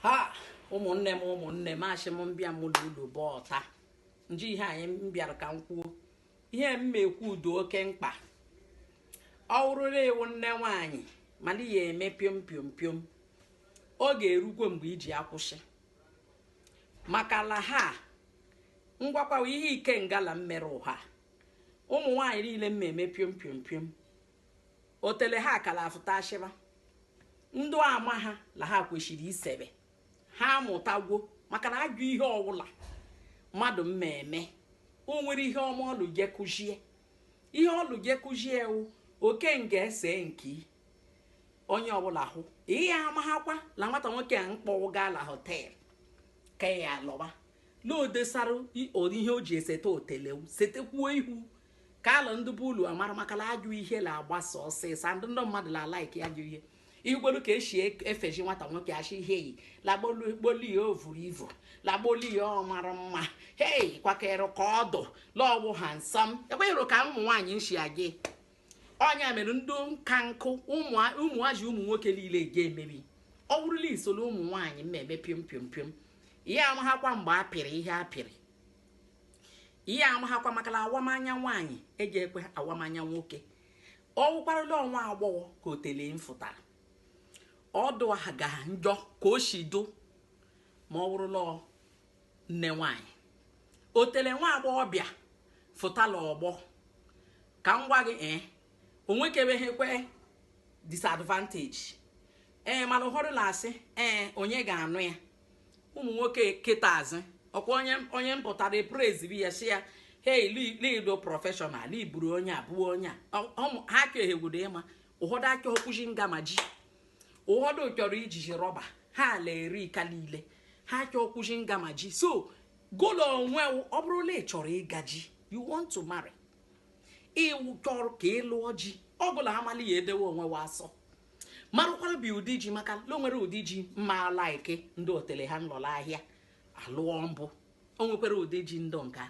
ha ụmụnne m ụmụnne m ashị m m bịa m ụlụ bụ ọta nji ihe anyị m bịara ka m kwuo ihe m ekwu ọ dụ oke mkpa ọ wụrụ la ị wụ nne nwaanyị mana ya eme piom piom piom ọ ga-erukwe mgbe ị ji akwụsị maka la ha ngwakwawa ihe ike ngala m mere ụha ụmụ nwaanyị niile m eme piom piom piom otele ha ka la afụta ashịba ndụ amaha la ha kwesịrị isebe ha amụtagwo maka na ajọ ihe ọwụla mmadụ mmeme o nwere ihe ọma ọlụ je kụzie ihe ọlụ je kụzie ewu oke nga ese nke onye ọbụla ihu ihe amaghakwa na nwata nwoke a mkpọ wụ gaa la hotel ka ya lọba na odesara ihe o ji eseta otele wụ setekwuo ihu ka ala ndị bụ ulu amara maka la ajọ ihe la agbasa ọsịsọ ndị ndị mmadụ la a-like ajọ ihe igbolu ka esi e- efeji nwata nwoke achị ihe yi la gbolu ya o vuru ivu la gbolu ya ọ mara mma hei kwakere ka ọ dụ la ọ wụ handsome ekweghịrụ ka ụmụ nwaanyị nshi agị ọnya mere ndị nka nkụ ụmụ- ụmụaji ụmụ nwoke niile ga emebi ọ bụrụ la i soro ụmụ nwaanyị mmeme piom piom piom ihe amaghakwa mgbe a pịrị ihe a pịrị ihe amaghakwa maka na awamanya nwaanyị eji ekwe awamanya nwoke ọ wụkwara la nwa agbọghọ ka otele mfụtara ọ dụ aha ga njọ ka o si dụ ma ọ wụrụ la nne nwaanyị otele nwa agbọghọ bịa fụta la ọgbọ ka m gwa gị ee eh, o nwekebeghekwe disadvantage ee eh, mana ụfọdụ la-asị ee eh, onye ga-anụ ya ụmụ nwoke kịtazi ọkwa onye onye mpụtara epreziri ya si ya hei lido professional liburu onye a bụ onye a Ọ- ọ mụ- ha chọ ehegwudo ịma ụfọdụ achọkwụzi nga ma ji ụfọdụ chọrọ iji ji rọba ha ala eri ka niile ha achọkwụzi nga ma ji so gụ la onwe wụ, ọ bụrụ na ị chọrọ ịga ji you want to marry ị chọrọ ka ị lụọ ji ọ bụla amala ya edewe onwe wa asọ marụkwara bụ ụdị ji maka na o nwere ụdị ji mma a-like ndị otele ha nlọla ahịa alụọ mbụ o nwekwara ụdị ji ndụ nka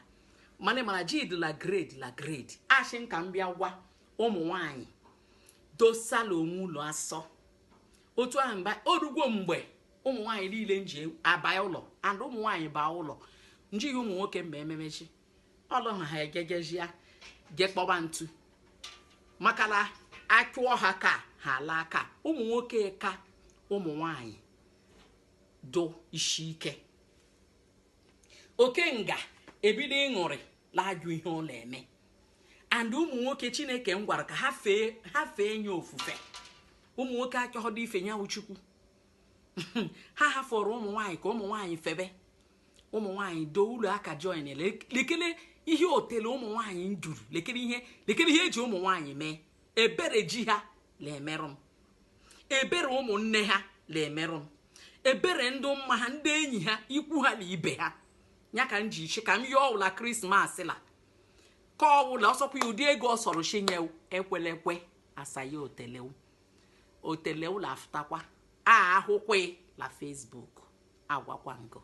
mana mara ji dị la grade la grade ashị m ka m bịa gwa ụmụ nwanyị dosala onwe ụlụ asọ otu ahụ mba o rugwo mgbe ụmụ nwanyị niile nji abaa ụlọ and ụmụ nwanyị baa ụlọ njighị ụmụ nwoke mme ememezi ọlụ na ha egegejia je kpọba ntu maka na achụọ ha ka ha laa ka ụmụ nwoke ka ụmụ nwanyị dụ isi ike okenga ebido ịṅụrị la-ajụ ihe ọ na-eme and ụmụ nwoke chineke m gwara ka ha fee ye ofufe ụmụ nwoke achọghụdụ ife ye wụ chukwu ha hafụrụ ụmụ nwanyị ka ụmụ nwanyị febe ụmụ nwaanyị doo ụlọ aka join lekele ihe otele ụmụ nwaanyị nduru lekele ihe e ji ụmụ nwaanyị mee ebere ji ha na-emerụ m ebere ụmụnne ha na-emerụ m ebere ndị mma ha ndị enyi ha ikwu ha na ibe ha ya ka m ji sị ka m yọọ ọwụla krismas la ka ọwụla ọ sọkwa ya ụdị ego ọ sọrọ chinyewu ekwele ekwe asaghị otele wụ otele wụ la-afụtakwa a ahụkwe la Facebook agwakwa ngo